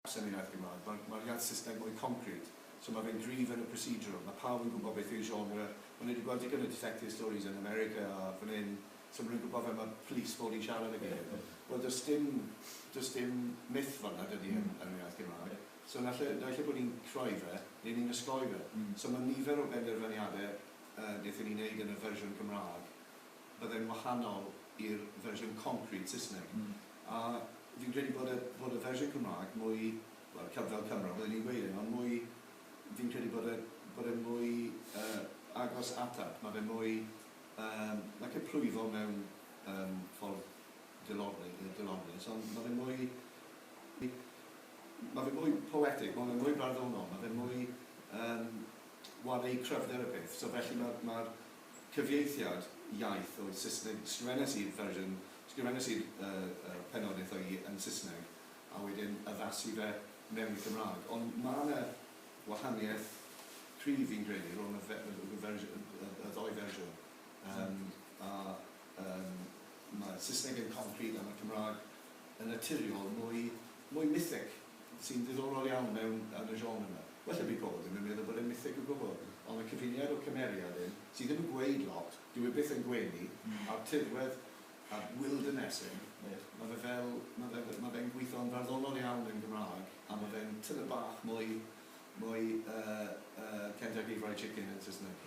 gwasanaeth Gymraeg. Mae'r mae'r iaith Saesneg mwy concrit, so mae fe'n gryf yn y procedural. Mae pawb yn gwybod beth yw genre. O'n i wedi gweld digon o detective stories yn America a fan hyn, so maen nhw'n gwybod fel mae police fod i siarad ag ei gilydd. Wel, does dim, does dim myth fel yna, dydy, yn yn yr iaith Gymraeg. So naill ai, naill ai bod ni'n creu fe, neu ni'n osgoi fe. So mae nifer o benderfyniadau yy wnaethon ni wneud yn y fersiwn Gymraeg, bydde'n wahanol i'r fersiwn concrete Saesneg. A fi'n credu bod y, bod y fersiwn Cymraeg mwy, wel, Cyb fel Cymro, bydden i'n gweud hyn, ond mwy, fi'n credu bod e, bod e mwy yy agos ataf. Ma' fe mwy yym, like a plwyfo mewn yym ffordd dilorni- yy dilornus, ond ma' fe mwy, ma' fe mwy poetic, ma' fe mwy barddonol, ma' fe mwy yym, ware i cryfder y peth. So felly ma', ma'r cyfieithiad iaith oedd Saesneg, sgrifennes i'r fersiwn, sgrifennes i'r yy pennod eitha i yn Saesneg a wedyn addasu fe mewn i Cymraeg, ond mae 'na wahaniaeth cryf fi'n credu rhwng y fe- y fersi- y y ddou fersiwn yym a yym mae Saesneg yn concrete a mae Cymraeg yn naturiol mwy mwy mythic. sy'n ddiddorol iawn mewn yn y genre yma. Well heb eu bod, dwi'm yn meddwl bod e'n mytheg o gwbl. Ond y cyfuniad o cymeriad hyn, sydd ddim yn gweud lot, dyw e byth yn gwenu, a'r tirwedd, a'r wilderness hyn, ma' fe fel, ma' fe, ma' fe'n gweithio'n farddonol iawn yn Gymraeg, a ma' fe'n tymed bach mwy, mwy yy yy Kentucky Fried Chicken yn Saesneg.